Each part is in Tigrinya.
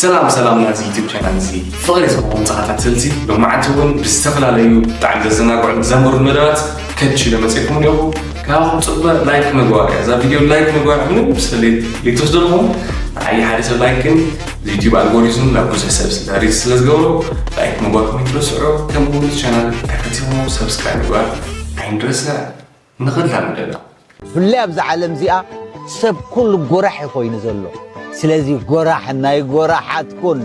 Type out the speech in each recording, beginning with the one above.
ሰላም ሰላም ናዚ ዩቲብ ቻናል እዚ ፍቕሪ ዝኸውን ተኸታተልቲ ብመዓልቲ እውን ብዝተፈላለዩ ብጣዕሚ ዘዘናግዑን ዘምህሩን መደባት ከች ኢለ መፅእኩም እኒኹ ካብኹም ፅበ ላይክ ምግባር እያ እዛ ቪድዮ ላይክ ምግባር ምንም ስለሌት ሌትወስዶ ኣለኹም ንዓይ ሓደ ሰብ ላይክ ግን ዩቲብ ኣልጎሪዝም ናብ ብዙሕ ሰብ ስለሪዝ ስለ ዝገብሮ ላይክ ምግባርኩም ይትረስዑ ከምኡ እውን ቻናል ተከቲኹም ሰብስክራይብ ምግባር ኣይንረስዕ ንኸላምደላ። ብፍላይ ኣብዛ ዓለም እዚኣ ሰብ ኩሉ ጎራሕ እዩ ኮይኑ ዘሎ ስለዚ ጎራሕ ናይ ጎራሓት ኩን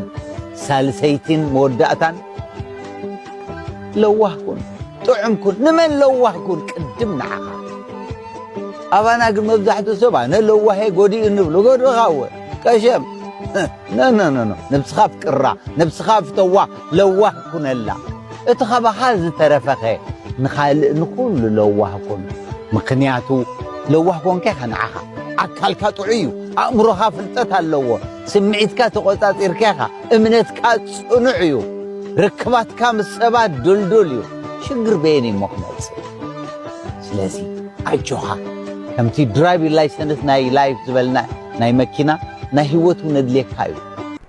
ሳልሰይቲን መወዳእታን ለዋህ ኩን ጥዑም ኩን ንመን ለዋህ ኩን ቅድም ንዓኻ ኣባና ግን መብዛሕትኡ ሰብ ኣነ ለዋሄ ጎዲኡ ንብሉ ጎድኻ እወ ቀሸም ነነነነ ነብስኻ ፍቅራ ነብስኻ ፍተዋ ለዋህ ኩነላ እቲ ካባኻ ዝተረፈኸ ንኻልእ ንኹሉ ለዋህ ኩን ምኽንያቱ ለዋህ ኮንከ ከንዓኻ ኣካልካ ጥዑይ እዩ ኣእምሮኻ ፍልጠት ኣለዎ ስምዒትካ ተቖጻጺርካ ኢኻ እምነትካ ጽኑዕ እዩ ርክባትካ ምስ ሰባት ድልዱል እዩ ሽግር በየን እዩሞ ክመጽእ ስለዚ ኣጆኻ ከምቲ ድራይቪ ላይሰንስ ናይ ላይፍ ዝበልና ናይ መኪና ናይ ህይወት እውን ኣድልየካ እዩ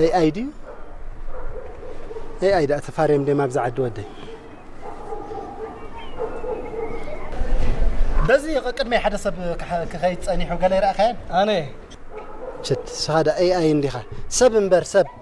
ኤኣይ ድዩ ኤኣይ ዳኣ ተፋርዮም ድዮም ኣብዚ ዓዲ ወደይ በዚ ቅድመይ ሓደ ሰብ ክኸይድ ጸኒሑ ገለ ይረኣኻያን ኣነ ችት ስኻ ዳ ኤኣይ እንዲኻ ሰብ እምበር ሰብ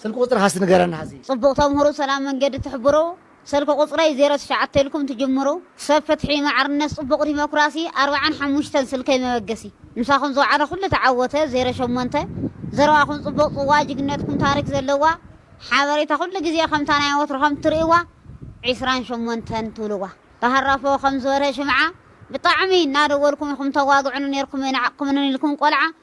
ስልኪ ቁፅርካ እስቲ ንገረና ሀዚ። ፅቡቅ ተምህሩ ሰላም መንገዲ ትሕብሩ ሰልኪ ቁፅረይ ዜሮ ትሽዓተ ኢልኩም ትጅምሩ ሰብ ፍትሒ ማዕርነት ፅቡቅ ዲሞክራሲ ኣርብዓን ሓሙሽተን ስልከይ መበገሲ ምሳኩም ዝወዓለ ኩሉ ተዓወተ ዜሮ ሸሞንተ ዘረባኩም ፅቡቅ ፅዋ ጅግነትኩም ታሪክ ዘለዋ ሓበሬታ ኩሉ ግዜ ከምታ ናይ ወትሩ ከም ትርእዋ ዕስራን ሸሞንተን ትብልዋ ተሃራፎ ከም ዝበርሀ ሽምዓ ብጣዕሚ እናደወልኩም ኢኩም ተዋግዑኒ ነርኩም ኣይነዓቅኩምንን ኢልኩም ቆልዓ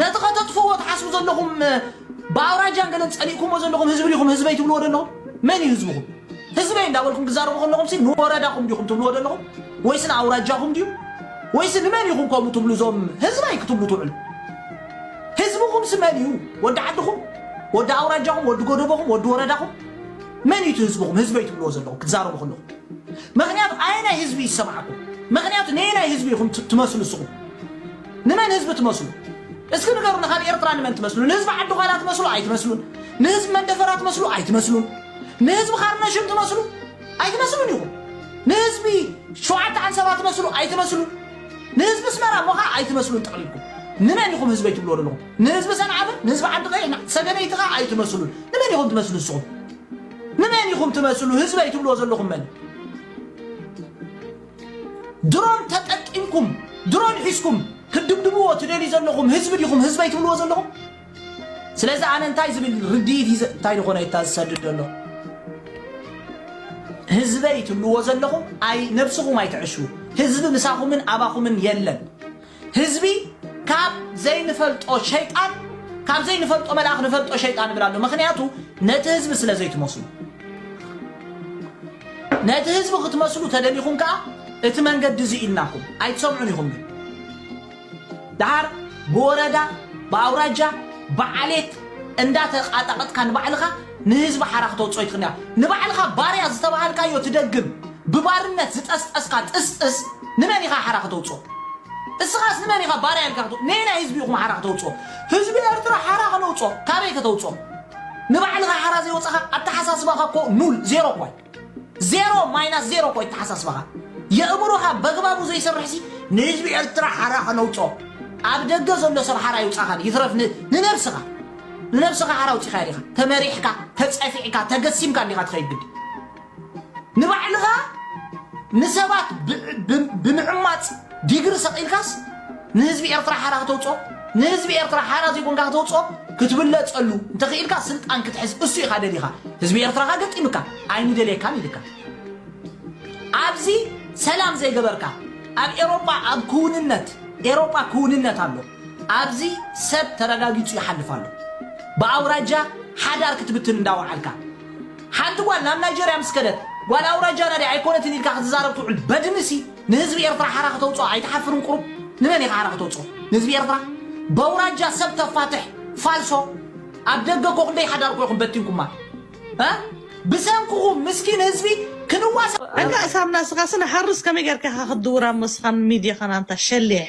ነቲ ከተጥፍእዎ ትሓስቡ ዘለኹም ብኣውራጃን ገለን ጸሊእኩሞ ዘለኹም ህዝቢ ዲኹም ህዝበይ ትብልዎ ዘለኹም? መን እዩ ህዝብኹም? ህዝበይ እንዳበልኩም ክዛረቡ ከለኹምሲ ንወረዳኹም ዲኹም ትብልዎ ዘለኹም? ወይስ ንኣውራጃኹም ድዩ? ወይስ ንመን ኢኹም ከምኡ ትብሉ እዞም ህዝበይ ክትብሉ ትውዕሉ? ህዝብኹምሲ መን እዩ? ወዲ ዓድኹም? ወዲ ኣውራጃኹም? ወዲ ጎደቦኹም? ወዲ ወረዳኹም? መን እዩ እቲ ህዝብኹም ህዝበይ ትብልዎ ዘለኹም ክትዛረቡ ከለኹም? ምክንያቱ ኣየናይ ህዝቢ ይሰምዓኩም? ምክንያቱ ነየናይ ህዝቢ ኢኹም ትመስሉ እስኹም? ንመን ህዝቢ ትመስሉ እስኪ ንገሩና ካብ ኤርትራ ንመን ትመስሉ ንህዝቢ ዓዲ ኋላ ትመስሉ ኣይትመስሉን ንህዝቢ መንደፈራ ትመስሉ ኣይትመስሉን ንህዝቢ ካርነሽም ትመስሉ ኣይትመስሉን ኢኹም ንህዝቢ ሸውዓተ ዓንሰባ ትመስሉ ኣይትመስሉን ንህዝቢ ስመራ ሞኻ ኣይትመስሉን ጠቕሊልኩም ንመን ኢኹም ህዝበይ ትብልዎ ዘለኹም ንህዝቢ ሰንዓፍን ንህዝቢ ዓዲ ቀይሕ ሰገነይቲ ኸ ኣይትመስሉን ንመን ኢኹም ትመስሉ ንስኹም ንመን ኢኹም ትመስሉ ህዝበይ ትብልዎ ዘለኹም መን እዩ? ድሮን ተጠቂምኩም ድሮን ሒዝኩም ክትድብድብዎ ትደልዩ ዘለኹም ህዝቢ ዲኹም ህዝበይ ትብልዎ ዘለኹም ስለዚ ኣነ እንታይ ዝብል ርድኢት እዩ ዘ- እንታይ ዝኾነ እታ ዝሰድድ ዘሎ ህዝበይ ትብልዎ ዘለኹም ኣይ ነብስኹም ኣይትዕሹ ህዝቢ ምሳኹምን ኣባኹምን የለን ህዝቢ ካብ ዘይንፈልጦ ሸይጣን ካብ ዘይንፈልጦ መልኣኽ ንፈልጦ ሸይጣን ይብል ኣሎ ምክንያቱ ነቲ ህዝቢ ስለ ዘይትመስሉ ነቲ ህዝቢ ክትመስሉ ተደሊኹም ከዓ እቲ መንገዲ እዚ ኢልናኩም ኣይትሰምዑን ኢኹም ግን ድሓር ብወረዳ ብኣውራጃ ብዓሌት እንዳተቃጣቀጥካ ንባዕልኻ ንህዝቢ ሓራ ክተውፅኦ ይትኽእል ንባዕልኻ ባርያ ዝተባሃልካዮ ትደግም ብባርነት ዝጠስጠስካ ጥስጥስ ንመን ኢኻ ሓራ ክተውጽኦ እስኻስ ንመን ኢኻ ባርያ ኢልካ ክተው ነየናይ ህዝቢ ኢኹም ሓራ ክተውጽኦ ህዝቢ ኤርትራ ሓራ ክነውጽኦ ካበይ ከተውጽኦ ንባዕልኻ ሓራ ዘይወጻኻ ኣተሓሳስባኻ እኮ ኑል ዜሮ እኮ ዜሮ ማይናስ ዜሮ እኮ ኣተሓሳስባኻ የእምሮኻ በግባቡ ዘይሰርሕሲ ንህዝቢ ኤርትራ ሓራ ክነውጽኦ ኣብ ደገ ዘሎ ሰብ ሓራ ይውጻኻን ይትረፍ ን- ንነብስኻ ንነብስኻ ሓራ ውጺኻ ዲኻ ተመሪሕካ ተጸፊዕካ ተገሲምካ እንዲኻ ትኸይድ ግዲ ንባዕልኻ ንሰባት ብምዕማጽ ዲግሪ ሰቒልካስ ንህዝቢ ኤርትራ ሓራ ክተውጽኦ ንህዝቢ ኤርትራ ሓራ ዘይኮንካ ክተውጽኦ ክትብለጸሉ እንተኽኢልካ ስልጣን ክትሕዝ እሱ ኢኻ ደሊኻ ህዝቢ ኤርትራኻ ገጢምካ ኣይንደልየካን ኢልካ ኣብዚ ሰላም ዘይገበርካ ኣብ ኤሮጳ ኣብ ክውንነት ኤሮጳ ክውንነት ኣሎ ኣብዚ ሰብ ተረጋጊጹ ይሓልፍ ኣሎ ብኣውራጃ ሓዳር ክትብትን እንዳወዓልካ ሓንቲ ጓል ናብ ናይጀርያ ምስ ከደት ጓል ኣውራጃና ድያ ኣይኮነትን ኢልካ ክትዛረብ ትውዕል በድሚ ሲ ንህዝቢ ኤርትራ ሓራ ክተውጽኦ ኣይትሓፍርን ቁሩብ ንመን ኢኻ ሓራ ክተውጽኦ ንህዝቢ ኤርትራ በውራጃ ሰብ ተፋትሕ ፋልሶ ኣብ ደገ እኮ ክንደይ ሓዳር እኮ ኢኹም በቲንኩማ እ ብሰንክኹም ምስኪን ህዝቢ ክንዋሳእ እንካእ ሳምናስ እኻስ ንሓርስ ከመይ ገርካ ኢኻ ክትድውር ኣብ ሞስኻን ሚድያኻን ኣንታ ሸሊሕ።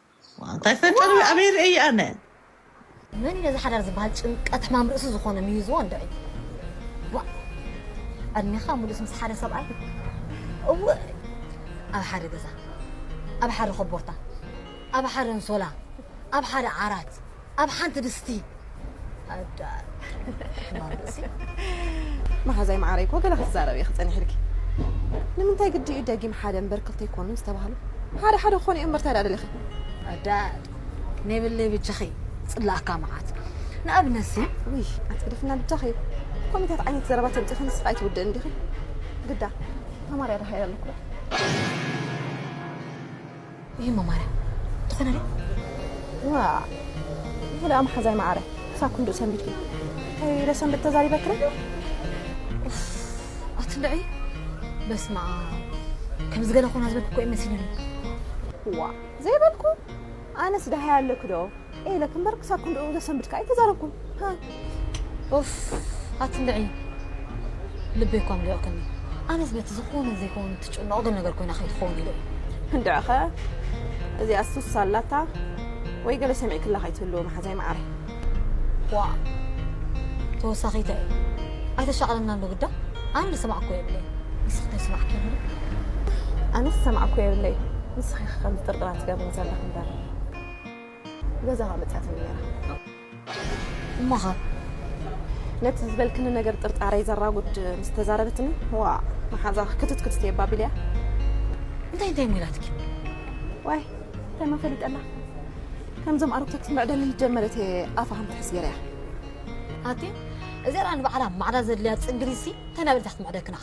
እንታይ ፈጥር ኣበይ ርእየ ኣነ። መን እዩ ነዚ ሓዳር ዝበሃል ጭንቀት ሕማም ርእሲ ዝኾነ ሚይዝዎ እንድዒ ዋእ ዕድሜኻ ሙሉእስ ምስ ሓደ ሰብኣይ እውእ ኣብ ሓደ ገዛ ኣብ ሓደ ኮቦርታ ኣብ ሓደ ኣንሶላ ኣብ ሓደ ዓራት ኣብ ሓንቲ ድስቲ ኣዳር ሕማም ርእሲ። መሓዛይ መዓረይ እኮ ገለ ክትዛረብ እየ ክጸኒሕ ኢልኪ ንምንታይ ግዲ እዩ ደጊም ሓደ እምበር ክልተ ኣይኮኑን ዝተባህሉ ሓደ ሓደ ክኾኑ እዮም እምበር እንታይ ደኣ ደሊኺ ኣዳር ከመይ ብለይ ብጃኺ ጽላኣካ መዓት ንኣብነት ሲ ውይ ኣንቲ ግደፍና ብጃኺ ኮሚታት ዓይነት ዘረባ ተምጢኺ ንስኻ ኣይትውድእን ዲኺ ግዳ ተማርያ ደሃ ኣለኩ ይህሞ ማርያም ትኾነ ዶ ዋ ይህለ ኣምሓዛይ መዓረ ክሳብ ክንድኡ ሰንቢድኪ እንታይ ለሰንብድ ተዛሪበክረ ኣትንደዒ በስማ ከምዚ ገለ ኮና ዝበልኩ እኮ እዩ መሲሉኒ ዋ ዘይበልኩ ኣነስ ዳሃይ ኣለኪ ዶ እየ ኢለኪ እምበር ክሳብ ክንድኡ ዘሰንብድ ከኣ ኣይተዛረብኩን። ኡፍ ኣትንብዒ ልበይ እኳ ኣምሊቑክኒ። ኣነስ በቲ ዝኾነን ዘይኮነን እትጭነቑ ገለ ነገር ኮይና ከይትኸውን ኢለ እየ። እንድዕኸ እዚኣ ሱስ ኣላታ ወይ ገለ ሰሚዕክላ ከይትህልዊ መሓዛይ መዓረይ። ዋእ ተወሳኺ እንታይ እዩ ኣይተሻቕለናን ዶ ግዳ ኣነ ዝሰማዕኩዎ የብለይን ንስኺ እንታይ ዝሰማዕክዮ ኣሎ ዶ? ኣነስ ዝሰማዕኩዎ የብለይን ንስኺ ኢኺ ከምዚ ጥርጥራት ትገብሪ ዘለኺ እምበር። ገዛኻ መጺኣትኒ ነይራ። እሞኸ? ነቲ ዝበልክኒ ነገር ጥርጣረይ ዘራጉድ ምስ ተዛረበትኒ፣ ዋእ መሓዛ ክትት ክትት እየ እባ ኣቢለያ። እንታይ እንታይ እሞ ኢላትኪ? ዋይ እንታይ መን ፈሊጠላ፣ ከምዞም ኣረግቶት መዕደሊ ጀመረት እየ ኣፋ ከም ትሕዝ ገይረያ። ኣቲ እዚኣ ደኣ ንባዕላ ማዕዳ ዘድልያ ጽግሪሲ እንታይ እናበለት እያ ክትምዕደክና?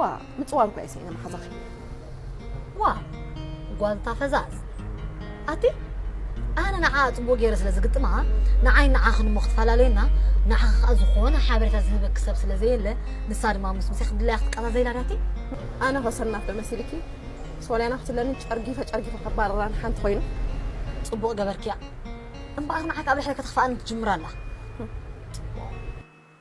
ዋእ ምጽዋር እኳ እየ ስኢነ መሓዛኺ። ዋእ ጓል እታ ፈዛዝ ኣቲ ኣነ ንዓኣ ጽቡቅ ጌረ ስለ ዝግጥማ ንዓይን ንዓኽን እሞ ክትፈላለየና ንዓኺ ከኣ ዝኾነ ሓበሬታ ዝህበኪ ሰብ ስለ ዘየለ ንሳ ድማ ምስ ምሴ ክትድላያ ክትቀዛዘይላ ድያቲ ኣነ ከ ሰናፍ ዶ መሲልኪ ሶልያና ክትብለኒ ጨርጊፈ ጨርጊፈ ከባርራ ንሓንቲ ኮይኑ ጽቡቅ ገበርክያ እምበኣር ንዓኪ ኣብ ልዕለይ ከተኽፍኣኒ ትጅምር ኣላ።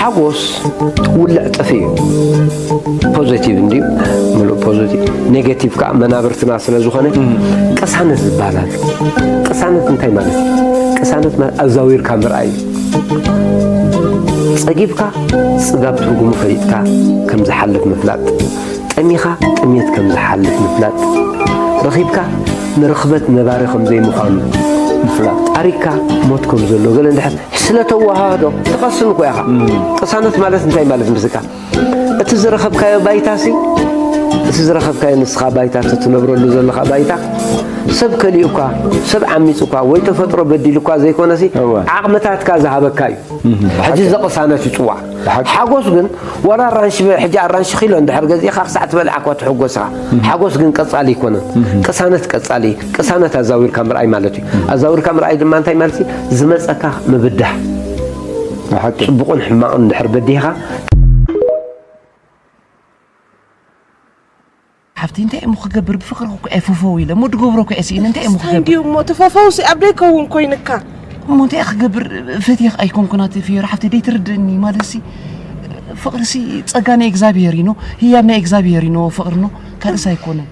ሓጎስ ውልዕ ጥፊ እዩ ፖዘቲቭ እንዲ ምሉእ ፖዘቲቭ ኔጋቲቭ ከዓ መናብርትና ስለ ዝኾነ ቅሳነት ዝበሃል ኣሎ ቅሳነት እንታይ ማለት እዩ ቅሳነት ማለት ኣዛዊርካ ምርኣይ ፀጊብካ ፅጋብ ትርጉሙ ፈሊጥካ ከም ዝሓልፍ ምፍላጥ ጠሚኻ ጥሜት ከም ዝሓልፍ ምፍላጥ ረኺብካ ንርኽበት ነባሪ ከም ዘይምዃኑ ምፍላጥ ኣሪካ ሞት ከም ዘሎ ገለ እንድሕር ስለ ተወሃህዶ ትቐስን እኮ ኢኻ። ቅሳነት ማለት እንታይ ማለት ምስካ እቲ ዝረኸብካዮ ባይታሲ እቲ ዝረኸብካዮ ንስኻ ባይታ ትነብረሉ ዘለኻ ባይታ ሰብ ከሊኡካ ሰብ ዓሚፁካ ወይ ተፈጥሮ በዲሉካ ዘይኮነሲ ዓቕምታትካ ዝሃበካ እዩ ሕጂ እዚ ቅሳነት ይፅዋዕ ሓጎስ ግን ዋላ ኣራንሺ ሕጂ ኣራንሺ ኪሎ እንድሕር ገዚእኻ ክሳዕ ትበልዓ እኳ ትሕጎስኻ ሓጎስ ግን ቀፃሊ ኣይኮነን ቅሳነት ቀፃሊ እዩ ቅሳነት ኣዛዊርካ ምርኣይ ማለት እዩ። ኣዛዊርካ ምርኣይ ድማ እንታይ ማለት እዩ? ዝመፀካ ምብዳህ ፅቡቕን ሕማቕን ድሕር በዲህኻ ሓፍቲ እንታይ እሞ ክገብር ብፍቅሪ እኮ እየ ፈፈው ኢለ እሞ ድገብሮ እኮ እየ ስኢነ እንታይ እሞ ክገብር እንዲዩ እሞ እቲ ፈፈውሲ ኣብ ደይከውን ኮይንካ እሞ እንታይ ክገብር ፈትየ ኣይኮንኩን ኣቲ ፍየሮ ሓፍቲ ደይትርድእኒ ማለትሲ ፍቅሪሲ ፀጋ ናይ እግዚኣብሄር እዩ ኖ ህያብ ናይ እግዚኣብሄር እዩ ኖ ፍቅሪ ኖ ካልእስ ኣይኮነን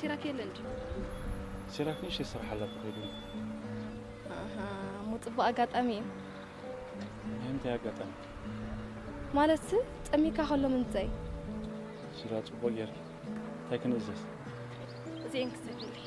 ሲራክ የለ እንዲ ሲራክ ንእሽተይ ስራሕ ኣላ ተኸይዱ እሞ ፅቡቅ ኣጋጣሚ እዩ ናይ እንታይ ኣጋጣሚ ማለት ፀሚካ ከሎ ምንታይ ሽራ ፅቡቅ ጌርኪ እንታይ ክንእዘዝ እዚኤን ክሰግልይ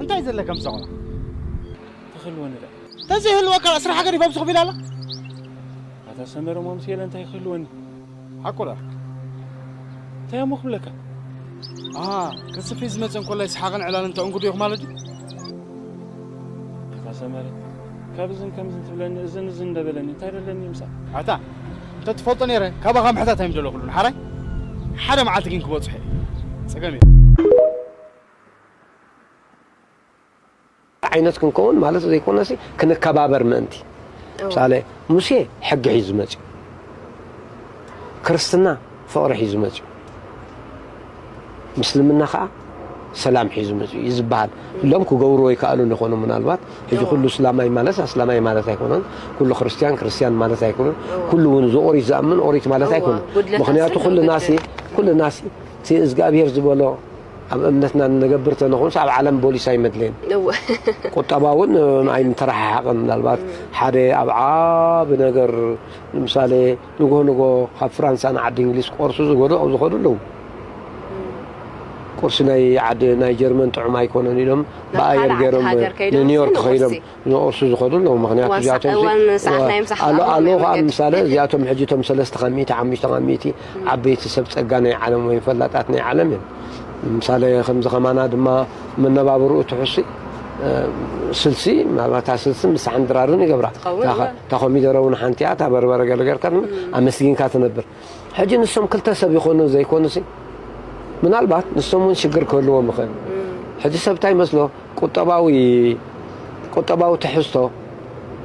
እንታይ ዘለካ ምሳ ቆልዓ ተክህልወኒ ዶ ተዘይህልወካ ካኣ ስራሕ ገዲፋ ብዝኽ ቢላ ኣላ ኣታ ሰመረ እሞ ምስ የለ እንታይ ክህልወኒ ሓቁ ዶ እንታይ እሞ ክብለካ ኣሃ ከስፊ ዝመፀ እንኮላይ ሰሓቕን ዕላልን ተእንግዱ ኢኹ ማለት እዩ ኣታ ሰመረ ካብ እዝን ከምዝን ትብለኒ እዝን እዝን እንደበለኒ እንታይ ደለኒ ምሳ ኣታ እንተ ትፈልጦ ነይረ ካባኻ ምሕታት ኣይምደለኹሉን ሓራይ ሓደ መዓልቲ ግን ክበጽሖ እየ ጸገም የለን ዓይነት ክንከውን ማለት ዘይኮነሲ ክንከባበር ምእንቲ ምሳሌ ሙሴ ሕጊ ሒዙ መጽኡ ክርስትና ፍቕሪ ሒዙ መጺኡ ምስልምና ከኣ ሰላም ሒዙ መጺኡ እዩ ዝበሃል እሎም ክገብርዎ ይከኣሉ ንኾኑ ምናልባት ሕጂ ኩሉ እስላማይ ማለት ኣስላማይ ማለት ኣይኮነን ኩሉ ክርስትያን ክርስትያን ማለት ኣይኮነን ኩሉ እውን እዚ ኦሪት ዝኣምን ኦሪት ማለት ኣይኮነን ምክንያቱ ኩልናሲ ኩልናሲ እቲ እዝግኣብሄር ዝበሎ ኣብ እምነትና ንነገብር ተነኾንስ ኣብ ዓለም ቦሊስ ኣይመድለየን ቁጠባ እውን ኣይምተረሓሓቕን ምናልባት ሓደ ኣብ ዓቢ ነገር ንምሳሌ ንጎሆ ንጎሆ ካብ ፍራንሳ ንዓዲ እንግሊዝ ክቆርሱ ዝገዱ ኣብ ዝኸዱ ኣለዉ። ቁርሲ ናይ ዓዲ ናይ ጀርመን ጥዑም ኣይኮነን ኢሎም ብኣየር ገይሮም ንኒውዮርክ ከይዶም ዝቁርሱ ዝኸዱ ኣለዉ። ምክንያቱ እዚኣቶም ኣሎ ኣሎ ከዓ ምሳለ እዚኣቶም ሕጂ እቶም ሰለስተ ካብ ሚእቲ ሓሙሽተ ካብ ሚእቲ ዓበይቲ ሰብ ጸጋ ናይ ዓለም ወይም ፈላጣት ናይ ዓለም እዮም። ምሳለ ከምዚ ከማና ድማ መነባብርኡ ትሑሲ ስልሲ ምናልባት እታ ስልሲ ምሳሕን ድራርን ይገብራ። እታ ኮሚደረ ውን ሓንቲ'ያ እታ በርበረ ገለ ጌርካ ድማ ኣመስጊንካ ትነብር። ሕጂ ንሶም ክልተ ሰብ ይኾኑ ዘይኮኑሲ ምናልባት ንሶም ውን ሽግር ክህልዎም ይኽእል። ሕጂ ሰብ እንታይ ይመስሎ ቁጠባዊ ቁጠባዊ ትሕዝቶ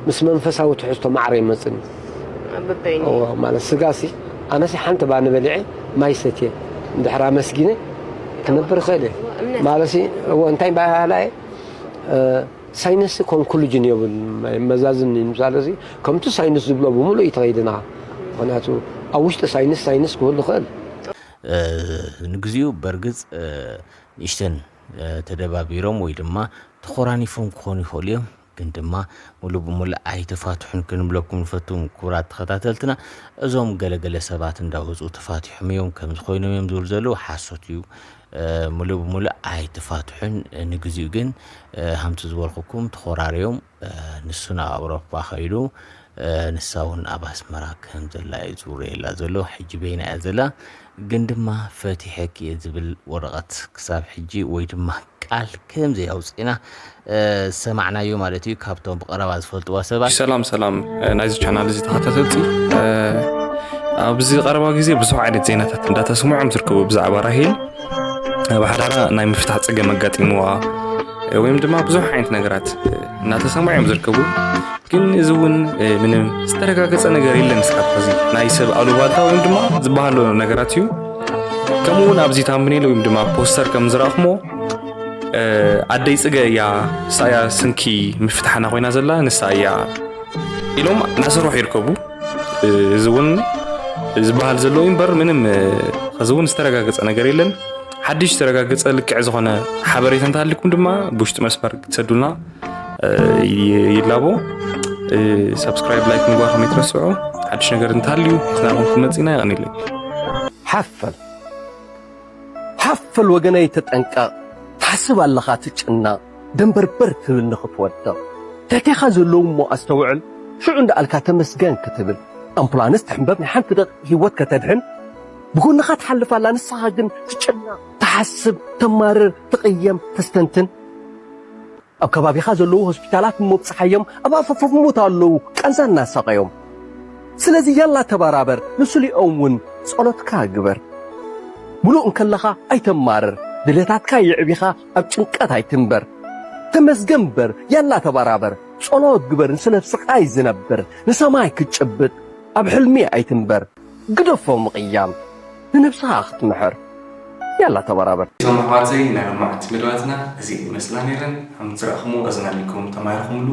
ምስ መንፈሳዊ ትሕዝቶ ማዕረ ኣይመጽን እዩ። ማለት ስጋሲ ኣነሲ ሓንቲ ባኒ በሊዐ ማይ ሰትየ እንድሕር ኣመስጊነ ክነብር ይኽእል እየ ማለትሲ እንታይ ባህላ እየ ሳይነስ ኮንኩሉጅን የብሉን መዛዝም ምሳለ እዚ ከምቲ ሳይንስ ዝብሎ ብምሉእ እይተኸይድና ምክንያቱ ኣብ ውሽጢ ሳይንስ ሳይንስ ክህሉ ይኽእል። ንግዚኡ በርግጽ ንእሽተን ተደባቢሮም ወይ ድማ ተኾራኒፎም ክኾኑ ይኽእሉ እዮም ግን ድማ ሙሉእ ብሙሉእ ኣይተፋትሑን ክንብለኩም ንፈቱ ክቡራት ተኸታተልትና እዞም ገለ ገለ ሰባት እንዳወጹ ተፋቲሖም እዮም ከምዚ ኮይኖም እዮም ዝብሉ ዘለዉ ሓሶት እዩ ምሉእ ብምሉእ ኣይተፋትሑን ንግዚኡ ግን ሃምቲ ዝበልኩኩም ተኾራርዮም ንሱ ናብ ኣውሮፓ ከይዱ ንሳ እውን ኣብ ኣስመራ ከም ዘላ እዩ ዝውረየላ ዘሎ ሕጂ በይና እያ ዘላ ግን ድማ ፈቲሐኪ እየ ዝብል ወረቐት ክሳብ ሕጂ ወይ ድማ ቃል ከም ዘይ ኣውፂእና ዝሰማዕናዮ ማለት እዩ ካብቶም ብቐረባ ዝፈልጥዋ ሰባት ሰላም ሰላም ናይዚ ቻናል እዚ ተኸታተልቲ ኣብዚ ቀረባ ግዜ ብዙሕ ዓይነት ዜናታት እንዳተስምዖም ዝርከቡ ብዛዕባ ራሄል ኣብ ሓዳራ ናይ ምፍታሕ ፀገም ኣጋጢምዋ ወይም ድማ ብዙሕ ዓይነት ነገራት እናተሰምዑ እዮም ዝርከቡ ግን እዚ እውን ምንም ዝተረጋገፀ ነገር የለን እስካብ ሕዚ ናይ ሰብ ኣሉባልታ ወይም ድማ ዝበሃሎ ነገራት እዩ ከምኡ እውን ኣብዚ ታምብኔል ወይም ድማ ፖስተር ከም ዝረኣኹሞ ኣደይ ጽገ እያ ሳያ ስንኪ ምፍታሕና ኮይና ዘላ ንሳ እያ ኢሎም እናሰርሑ ይርከቡ እዚ እውን ዝበሃል ዘሎ እምበር ምንም እዚ እውን ዝተረጋገፀ ነገር የለን ሓድሽ ዝተረጋገፀ ልክዕ ዝኾነ ሓበሬታ እንተሃሊኩም ድማ ብውሽጢ መስመር ክትሰዱልና ይላቦ ሰብስክራይብ ላይክ ምግባር ከመይ ትረስዑ ሓድሽ ነገር እንተሃልዩ ስናኹም ክመፅና ይቐኒለይ ሓፈል ሓፍ በል ወገነይ ተጠንቀቕ ትሓስብ ኣለኻ ትጭነቕ ደንበርበር ትብል ንኽትወድቕ ትሕቴኻ ዘለዉ እሞ ኣስተውዕል ሽዑ እንዳኣልካ ተመስገን ክትብል ኣምፑላንስ ትሕምበብ ናይ ሓንቲ ደቒቕ ሂወት ከተድሕን ብጎንኻ ትሓልፍ ኣላ ንስኻ ግን ትጭነቕ ትሓስብ ተማርር ትቕየም ተስተንትን ኣብ ከባቢኻ ዘለዉ ሆስፒታላት ምብጽሓዮም ኣብ ኣፈፈፍ ሞት ኣለዉ ቃንዛ እናሳቐዮም ስለዚ ያላ ተባራበር ንስሊኦም ውን ጸሎትካ ግበር ምሉእ እንከለኻ ኣይተማርር ድሌታትካ የዕቢኻ ኣብ ጭንቀት ኣይትንበር ተመስገን እምበር ያላ ተባራበር ጸሎት ግበር ንስለ ስቓይ ዝነብር ንሰማይ ክትጭብጥ ኣብ ሕልሚ ኣይትንበር ግደፎ ምቕያም ንነብስኻ ክትምሕር ያላ ተበራበር። እዞም ኣሕዋተይ ናይ ሎማዓንቲ መደባትና እዚኤን ይመስላ ነይረን ሃምቲ ዝረኣኹምዎ እዝና ኣልኩም ተማሂርኹምሉ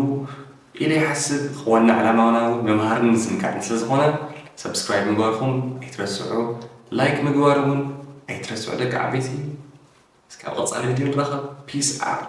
ኢለ ይሓስብ ዋና ዕላማና ውን ምምሃርን ምዝንጋዕን ስለ ዝኾነ subscribe ምግባርኹም ኣይትረስዑ like ምግባር ውን ኣይትረስዑ ደቂ ዓበይቲ እስከ ኣብ ቐፃሊ ቪድዮ ንራኸብ peace out።